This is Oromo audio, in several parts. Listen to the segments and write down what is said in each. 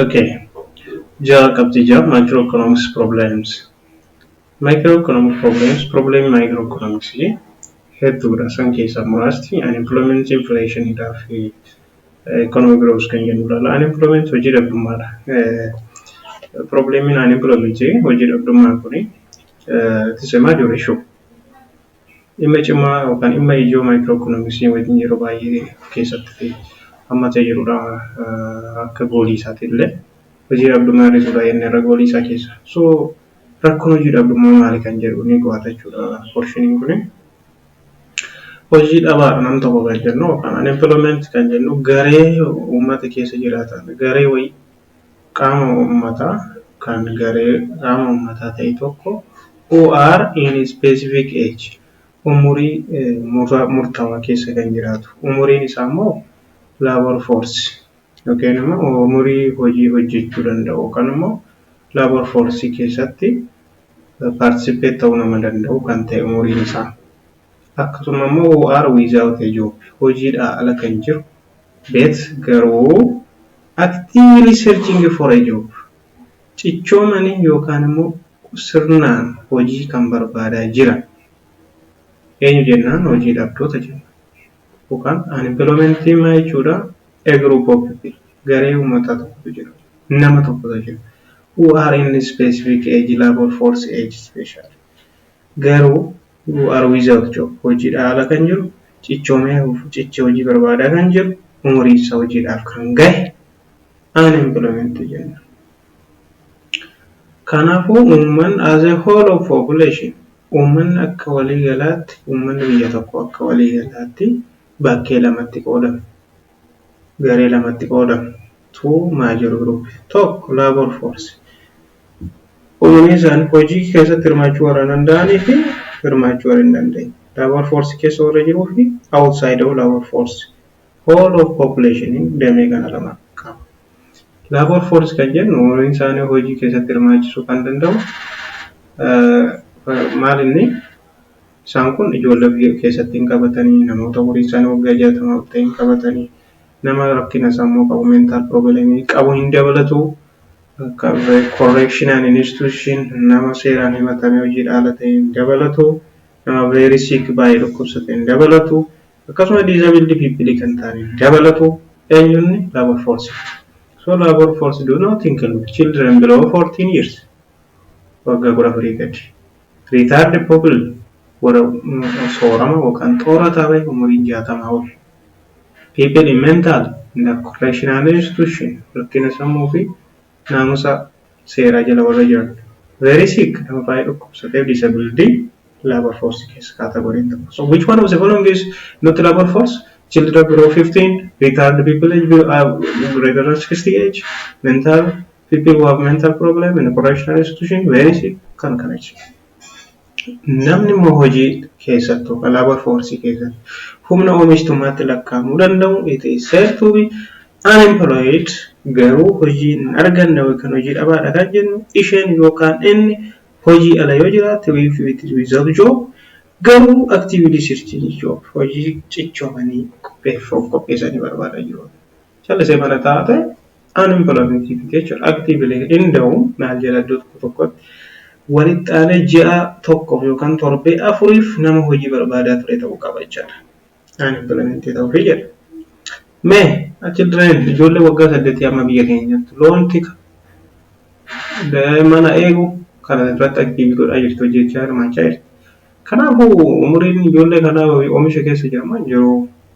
Okay. Jaha qabxii jaha microeconomics problems. Microeconomic problems problem microeconomics hedduudha. San keessaa muraasti unemployment inflation dhaa fi economic growth kan jennu ilaala. Unemployment hojii dhabdummaadha. Problemiin unemployment hojii dhabdummaa kuni it is a major issue. Dhimma cimaa yookaan dhimma ijoo maayikroo ikoonomiksii wajjin yeroo baay'ee of keessatti hammatee jirudha. Akka goolii isaati illee hojii dhabdummaa hir'isuu dha inni irra goolii isaa keessa. So rakkoon hojii dhabdummaa maali kan jedhu ni qo'ata jechuudha porshiniin kuni. Hojii dhabaa nam tokko kan jennu yookaan unemployment kan jennu garee uummata keessa jiraatan garee wayii qaama uummataa kan garee qaama uummataa ta'e tokko who are in a specific age umurii murtaawaa keessa kan jiraatu umuriin isaa immoo labor force yookiin immoo umurii hojii hojjechuu danda'u yookaan immoo labor force keessatti participate ta'uu nama danda'u kan ta'e umuriin isaa akkasuma immoo who are without a job hojiidhaa ala kan jiru Bet garuu actively searching for a job cichoomanii yookaan immoo sirnaan hojii kan barbaadaa jiran eenyu jennaan hojii dhabdoota jenna yookaan unemployment maal jechuudha a group of people garee uummataa tokkotu jira nama tokkotu jira who are in specific age labor force age special garuu who are without job, hojiidhaa ala kan jiru, cichoomee hafuuf cichee hojii barbaadaa kan jiru, umuriin isaa hojiidhaaf kan gahe unemployment jenna. Kanaafuu uummanni as a whole of population uummanni akka walii galaatti uummanni biyya tokko akka walii galaatti bakkee lamatti qoodama. garee lamatti qoodamu. Two major group. Tokko labor force. Umanii isaan hojii keessatti hirmaachuu warra danda'anii fi hirmaachuu warra hin dandeenye. Labor force keessa warra jiruu fi outside of labor force. Whole of population damee kana lama qaba. Labor force kan jennu umanii isaanii hojii keessatti hirmaachisuu kan danda'u maal inni Isaan kun ijoollee ofii keessatti hin qabatanii, namoota umuriin isaanii waggaa 60 ol ta'e hin qabatanii, nama rakkina sammuu qabu, mental problem, qabu hin dabalatu. Correctional institution nama seeraan himatamee hojiidhaa ala ta'e hin dabalatu. Nama very sick baay'ee dhukkubsate hin dabalatu. Akkasuma disabled people kan ta'an hin dabalatu. Eenyunni labor force. So labor force do not include children below 14 years. Waggaa 14 gadi. Retarded pupil warra soorama yookaan xoora taabay umuriin 60 ol. People in mental and correctional institution rakkina sammuu fi naamusa seeraa jala warra jiran. Very sick nama baay'ee dhukkubsateef disabled labour force keessa category hin ta'u. So which one of the following is not labour force? Children below 15, retarded people age below, uh, greater than 60 age, mental people who have mental problem in a correctional institution veenisi kan kana jechuudha. Namni immoo hojii keessattuu kan labor force keessatti humna oomishtummaatti lakkaa'amuu danda'u it is said to be unemployed garuu hojii hin arganne yookaan hojii dhabaadha kan jennu isheen yookaan inni hojii ala yoo jiraate if it is without job garuu actively searching job hojii cichoomanii qopheeffamuu qopheessanii barbaadaa jiru. Callisee mana taa'aa ta'e unemployment fixed jechuudha. Actively hin da'u maal jedha iddoo tokko tokkotti. Walitti aanee ji'a tokkoof yookaan torbee afuriif nama hojii barbaadaa ture ta'uu qaba jechaadha. Unemployment ta'uuf jedha. Mee children ijoollee waggaa saddeetii amma biyya keenya jirtu loon tika mana eegu kana irratti active godhaa jirtu hojjechaa hirmaachaa jirti. Kanaafuu umuriin ijoollee kanaa oomisha keessa jira moo hin jiru?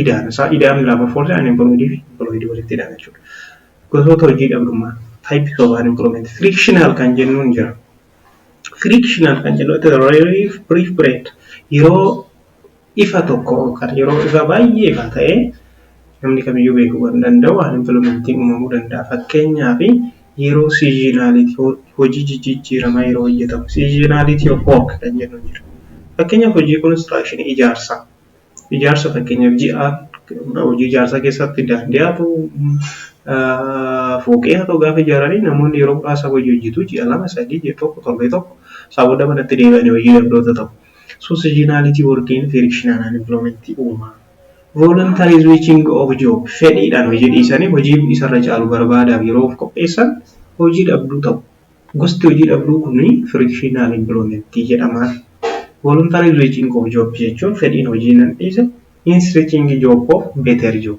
idaan isaa idaan biraa perforce and employed fi employed walitti hidhama jechuudha. Gosoota hojii dhabdummaa types of unemployment frictional kan jennuun jira. Frictional kan jennu itti relief brief bread yeroo ifa tokko yookaan yeroo ifa baay'ee ifa ta'e namni kamiyyuu beekuu kan danda'u unemploymentiin uumamuu danda'a. Fakkeenyaaf yeroo seasonality hojii jijjiiramaa yeroo hojjetamu seasonality of work kan jennu jira. Fakkeenyaaf hojii construction ijaarsaa. ijaarsa fakkeenyaaf ji'a hojii ijaarsaa keessatti daandii haa ta'u, fooqii haa ta'u gaafa ijaaranii namoonni yeroo muraasa hojii hojjetu. Ji'a lama, sadii, ji'a tokko, torbee tokko isaa booda manatti deebi'anii hojii dhabdoota ta'u. So seasonality working frictional unemployment uuma. Voluntary switching of job fedhiidhaan hojii dhiisanii hojii isarra caalu barbaadaaf yeroo of qopheessan hojii dhabduu ta'u. Gosti hojii dhabduu kun frictional employment jedhama. Voluntary reaching of job jechuun fedhiin hojii nan dhiise means reaching job of better job.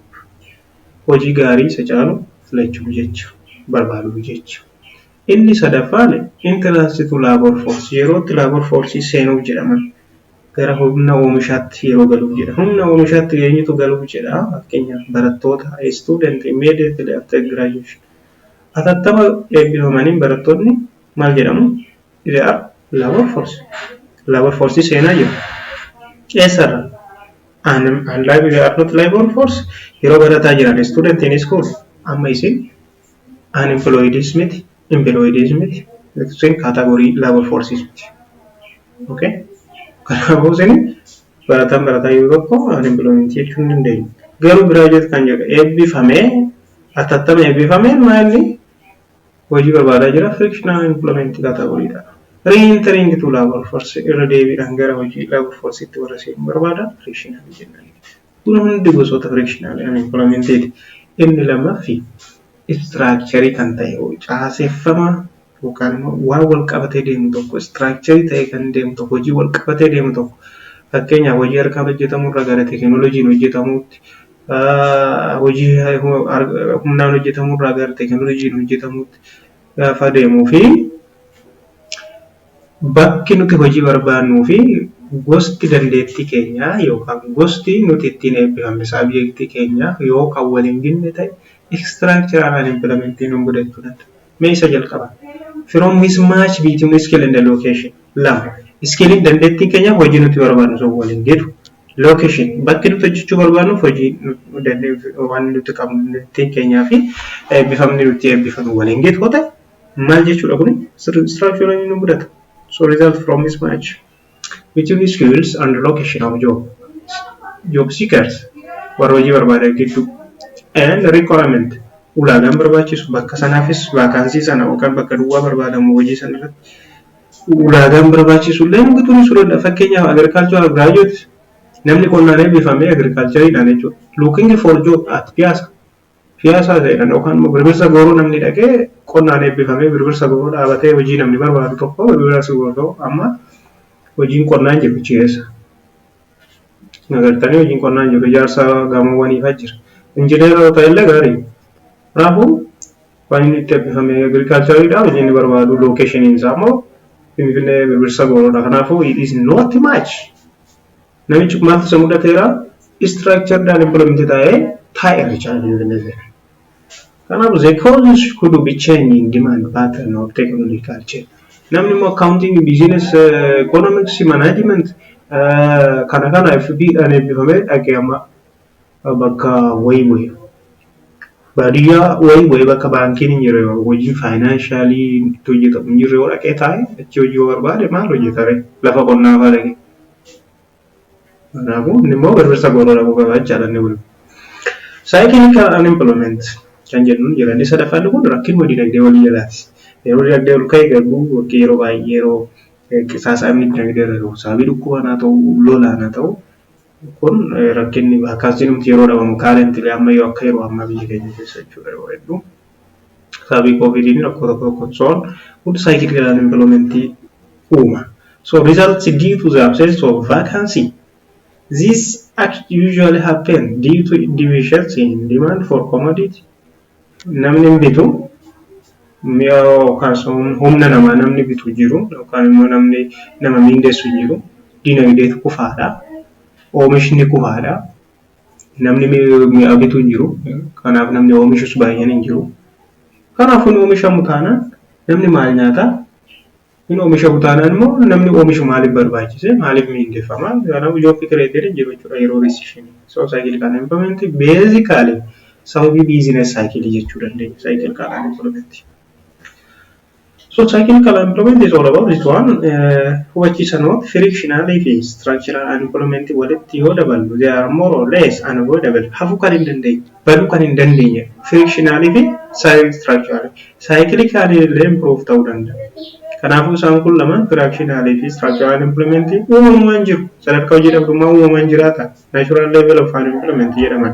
Hojii gaarii isa caalu filachuu jecha, barbaaduu jecha. Inni sadaffaan entrance to labor force yeroo itti labor force seenuuf jedhama. Gara humna oomishaatti yeroo galuuf jedha. Humna oomishaatti eenyutu galuuf jedha? Fakkeenyaaf barattoota student immediately after graduation. Atattama eebbifamaniin barattootni maal jedhamu? They are labor force. Labor force seenaa jiru. Eessarra? And, and like they are not labor force yeroo barataa jiran student in school amma isin unemployeds miti employeds miti isin category labor forces miti. Okay? Kanaafuu isin barataan barataa yeroo tokko unemployment jechuun hin dandeenyu. Garuu graduate kan jedhu eebbifamee atattama eebbifame maayilli hojii barbaadaa jira frictional employment category dha. Re-entering to labor force irra deebiidhaan gara hojii labor force itti warra seenuu barbaada frictional jennaan. Kun hundi gosoota frictional unemployment ti. Inni lammaffi structure kan ta'e caaseffama yookaan immoo waan wal qabatee deemu tokko, istiraakcharii ta'ee kan deemu tokko, hojii wal qabatee deemu tokko fakkeenyaaf hojii harkaan hojjetamu irraa gara teekinooloojiin hojjetamuutti, hojii humnaan hojjetamu irraa gara teekinooloojiin hojjetamuutti gaafa deemuu fi bakki nuti hojii barbaannuu fi gosti dandeettii keenyaa yookaan gosti nuti ittiin eebbifamne saabjektii keenyaa yoo kan wal hin ginne ta'e istiraakcharaal anempiloomentiin nu mudachuu danda'a. Mee isa jalqaba. From mismatch between skill and location. Lama. Iskiiliin dandeettiin keenyaaf hojii nuti barbaadnu sun waliin deemu. Location. Bakki nuti hojjechuu barbaadnuuf hojii waan nuti qabnu dandeettiin keenyaa fi eebbifamni nuti eebbifamu waliin deemu yoo ta'e maal jechuudha kun structure nu mudata. So result from mismatch. Between Skills and Location of Jobs Job Seekers warra hojii barbaadan gidduu and Requirement ulaagaan barbaachisu bakka sanaafis vaakaansii sana yookaan bakka duwwaa barbaadamu hojii sana irratti ulaagaan barbaachisu illee nama turisuu danda'a. Fakkeenyaaf agricultural graduate namni qonnaan eebbifame agricultureidhaan jechuudha. Looking for job at piyaasa Piyaasaa seenan yookaan immoo Birbirsa Gooroo namni dhaqee qonnaan eebbifamee Birbirsa Gooroo dhaabatee hojii namni barbaadu tokko Birbirsa Gooroo amma hojiin qonnaa hin jiru achi keessa. Agartanii hojiin qonnaa hin jiru ijaarsa gamoowwanii fa'aa jira. Injineera yoo ta'e illee gaarii. Kanaafuu waan inni itti eebbifame agirikaalchariidha hojii inni barbaadu lookeeshiniin isaa immoo Finfinnee Birbirsa Gooroodha. Kanaafuu it is not much. Namichi kun maaltu isa mudateera? Structured unemployment taa'ee taa'e Richard hin dandeesseera. Kanaaf the causes could be change in demand pattern or technological change. Namni immoo accounting, business, economics, management kana kana FB dhaan eebbifamee dhaqee amma bakka wayii bu'e. Baadiyyaa wayii bu'e bakka baankiin hin jirre hojii faayinaanshalii itti hojjetamu hin jirre yoo dhaqee taa'e achi hojii yoo barbaade maal hojjetare lafa qonnaa fa'aa dhaqee. Kanaafuu inni immoo birbirsa gooroo dhaquu qaba jechaadha inni kun. Cyclical unemployment kan jennuun jira. Inni sadaffaan kun rakkinuma dinagdee walii jalaati. Yeroo dinagdee ol ka'e garuu yookiin yeroo baay'ee yeroo qisaasaamni dinagdee irra gahu sababii dhukkubaan haa ta'u lolaan haa ta'u kun rakkinni vaakaansiin nuti yeroo dhabamu kaarentilii amma yoo akka yeroo ammaa biyya keenya keessa jechuudha yeroo hedduu Sababii COVID fi rakkoo tokko tokkoon soon good cycle and employment uuma. So results due to the absence of vacancy. This act usually happen due to deficiency in demand for commodity. Namni hin bitu mi'a yookaan humna namaa namni bitu jiru yookaan immoo namni nama miindessu jiru dinagdeetu kufaadha. Oomishni kufaadha. Namni mi'a bitu hin jiru. Kanaaf namni oomishus baay'een hin jiru. Kanaafuu hin oomishamu taanaan namni maal nyaata? Hin oomishamu taanaan immoo namni oomishu maaliif barbaachise? Maaliif miindeffama? Kanaafuu job created hin jiru jechuudha yeroo recession. So cyclical unemployment basically sababii business cycle jechuu dandeenya cyclical unemployment. So cycle kala employment is all about this one hubachiisa note frictional fi structural unemployment walitti yoo daballu they are more or less unavoidable hafuu kan hin dandeenye baduu kan hin dandeenye frictional fi structural cycle kan illee improve ta'uu danda'a. Kanaafuu isaan kun lamaan frictional fi structural unemployment uumamumaan jiru sadarkaa hojii dhabdummaa uumamaan jiraata natural level of unemployment jedhaman.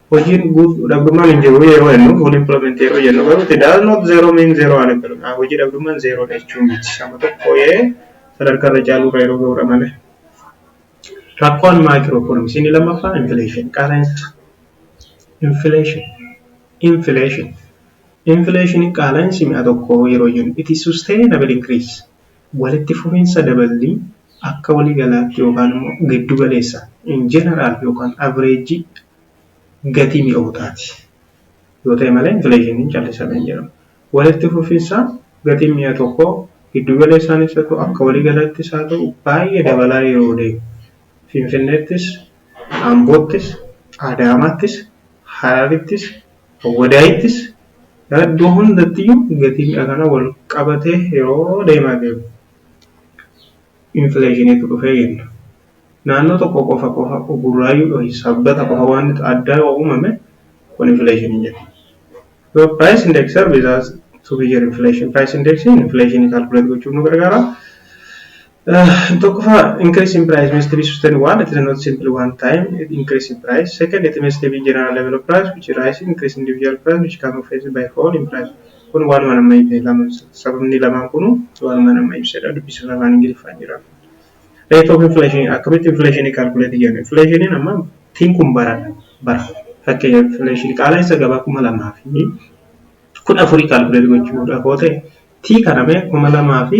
Hojiin guutuu dhabdummaan hin jiru yeroo jennu, full employment yeroo jennu garuu it does not zero mean zero unemployment. Ah, hojii dhabdummaan zero dha jechuun miti. Amma tokko yee sadarkaa irra caaluu irra yeroo ga'udha malee. Rakkoon microeconomics inni lammaffaa inflation qaala'insa. Inflation. Inflation. Inflation qaala'insi mi'a tokko yeroo jennu it is sustainable increase. Walitti fufiinsa daballii akka wali galaatti yookaan immoo giddu galeessaan, in general, yookaan average gatii mi'ootaati yoo ta'e malee inflation callisaa kan jedhamu. Walitti fufiinsa gatiin mi'a tokkoo giddu galeessaanis haa ta'u akka wali galaattis haa ta'u baay'ee dabalaa yeroo deemu. Finfinneettis, Amboottis, Adaamaattis, Hararittis, Awwadaayittis, iddoo hundattiyyuu gatiin dha kana wal qabatee yeroo deemaa deemu infleeshiniitu dhufee jenna. Naannoo tokko qofa qofa Burraayyuu ykn Sabbata qofa waanti addaa yoo uumame kun infleeshinii jenna. Yoo price index serves as two-year inflation, price index infleeshinii calculate gochuuf nu gargaara. Tokkoffaa increase in price must be sustained one it is not simple one time increase in price second it must be general level of price which rise increase individual price which can offset by fall in price kun waanuma nama ibse lama sababni lamaan kunu waanuma nama ibsedha dubbisuuf afaan ingiliffaan jira rate of inflation akkamitti inflation calculate jenna inflation amma tiin kun bara bara fakkeenya inflation qaala'insa gabaa kuma lamaa fi kudha afurii calculate gochuudha koo ta'e tii kaname kuma lamaa fi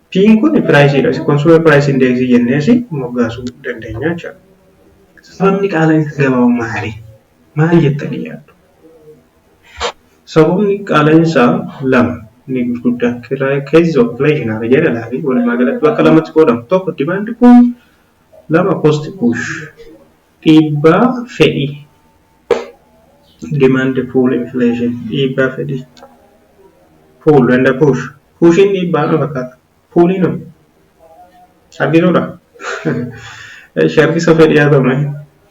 P'n kun piraayisiidha. Consumer price index jennees moggaasuu dandeenya jechuudha. Sababni qaala'iinsa gabaa maali? Maal jettanii yaaddu? Sababni qaala'iinsa lama inni gurguddaa cases of inflation haala jedhan laali walumaa galatti bakka lamatti qoodamu. Tokko demand pull lama cost push. Dhiibbaa fedhii, demand pull inflation, dhiibbaa fedhii, pull and push, push'n dhiibbaa na fakkaata, pull'n hoo? Harkisuudha? Eshi harkisa fedhii haa ta'u mee.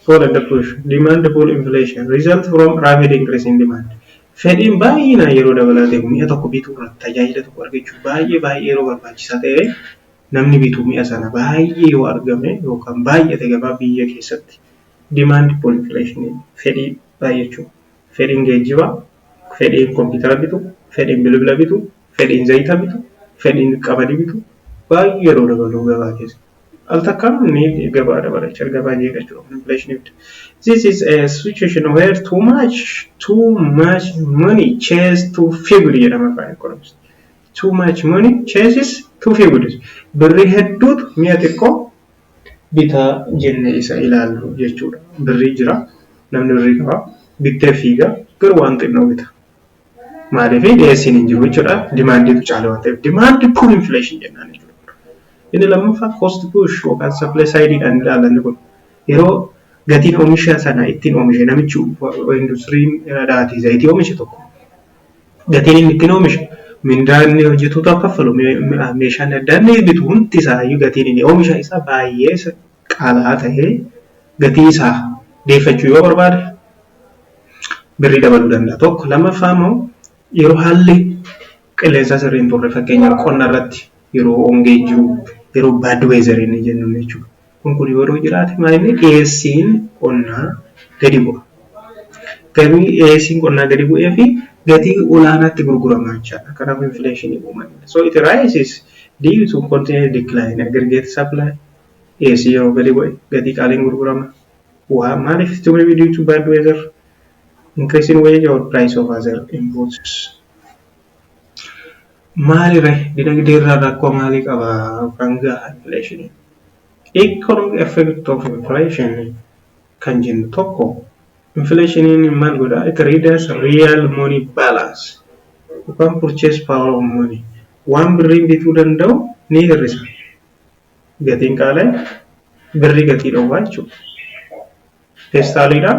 Pull and push, demand pull inflation, result from rapid increase in demand. Fedhiin baay'inaan yeroo dabalaa deemu mi'a tokko bituu irratti tajaajila tokko argachuuf baay'ee baay'ee yeroo barbaachisaa ta'e namni bitu mi'a sana baay'ee yoo argame yookaan baay'ate gabaa biyya keessatti demand pull inflation jedhama. Fedhii baay'achuu. Fedhiin geejjibaa, fedhiin kompiitara bitu, fedhiin bilbila bitu, fedhiin zayita bitu, fedhiin qamadii bitu baay'ee yeroo dabalu gabaa keessa al takkaan ni gabaa dabalachaa gabaa jeeqachuu qabna inflation ibda. This is a situation where too much too much money chase too feebly jedhama afaan economist. Too much money chases two fields. Birrii hedduutu mi'a xiqqoo bita jennee isa ilaallu jechuudha. Birrii jira, namni birrii qaba, bittee fiiga, garuu waan xinnoo bita. Maaliif dhiyeessiin hin jiru jechuudha. Dimaandiitu caala waan ta'eef. Dimaandi puul infleeshin jennaan jechuudha. Inni lammaffaa koost puush yookaan sappilee saayidiidhaan ilaalanni kun yeroo gatiin oomisha sana ittiin oomishe namichi industiriin dhaatii zayitii oomishe tokko gatiin inni ittiin oomishu, mindaa inni hojjatootaaf kaffalu, meeshaan addaa inni bitu hundi isaayyuu gatiin inni oomisha isaa baay'ee qaala'aa ta'ee gatii isaa deeffachuu yoo barbaade birrii dabaluu danda'a. Tokko lammaffaa immoo yeroo haalli qilleensaa sirrii hin turre fakkeenyaaf qonna irratti yeroo hongeen jiru, yeroo bad weather inni jennu jechuudha. Kun kun yoo jiraate maalinni dhiyeessiin qonnaa gadi bu'a. Gabii dhiyeessiin qonnaa gadi bu'ee fi gatii olaanaatti gurgurama jechaadha. Kanaaf infleeshinii uuma. So it rises due to continuous decline in aggregate supply dhiyeessiin yeroo gadi bu'e gatii qaaliin gurgurama. Waa maaliif itti uumame due to bad weather increase in wage or price of other inputs. Maali ree dinagdee irraan rakkoo maalii qaba Frangaa inflation economic effect of inflation kan jennu tokko inflationiin maal godha it readers real money balance yookaan purchase power of money waan birriin bituu danda'u ni hir'isa gatiin qaala'e birrii gatii dhowwaa jechuudha. Peestaaliidhaan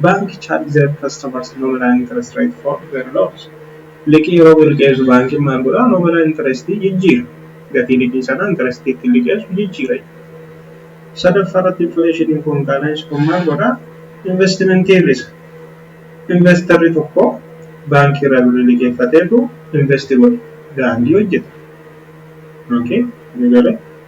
Bank charge their customers nominal interest rate for their loans. Liqii yeroo birr liqeessu baankiin maal godha? Nominal interest jijjiira. Gatii liqii sanaa interest ittiin liqeessu jijjiira jechuudha. Sadaffaa irratti infleeshiniin kun qaala'insi kun maal godha? Investimentii hir'isa. Investarri tokko baankii irraa birrii liqeeffateetu investi godha. Daandii hojjeta. Okay? Ni galee?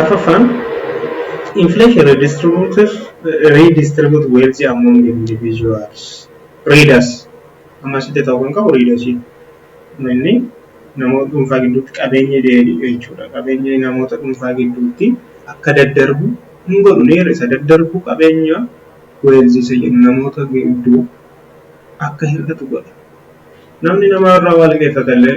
Arfaffaan inflation redistribute wealth among individuals read as amma asitti ta'uu kan qabu read asii inni namoota dhuunfaa gidduutti qabeenya jechuudha qabeenya namoota dhuunfaa gidduutti akka daddarbu hin godhu neera isa daddarbu qabeenya wealth isa jedhu namoota gidduu akka hir'atu godha namni namaa irraa waa liqeeffatellee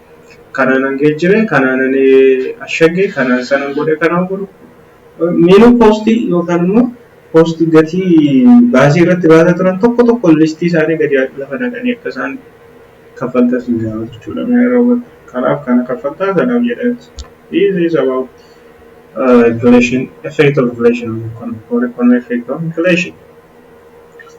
Kanaanan geejjire, kanaanan ashagge, kanaan sanan godhe, kanaan godhu miinuu koostii yookaan immoo koostii gatii baasii irratti baasaa turan tokko tokkoon listii isaanii gadi lafa naqanii akka isaan kaffaltaa isin gaafatu jechuudha. Mee yeroo godhu kanaaf kana kaffaltaa kanaaf jedhan this is about uh, inflation effect of inflation on economy or economy effect of inflation.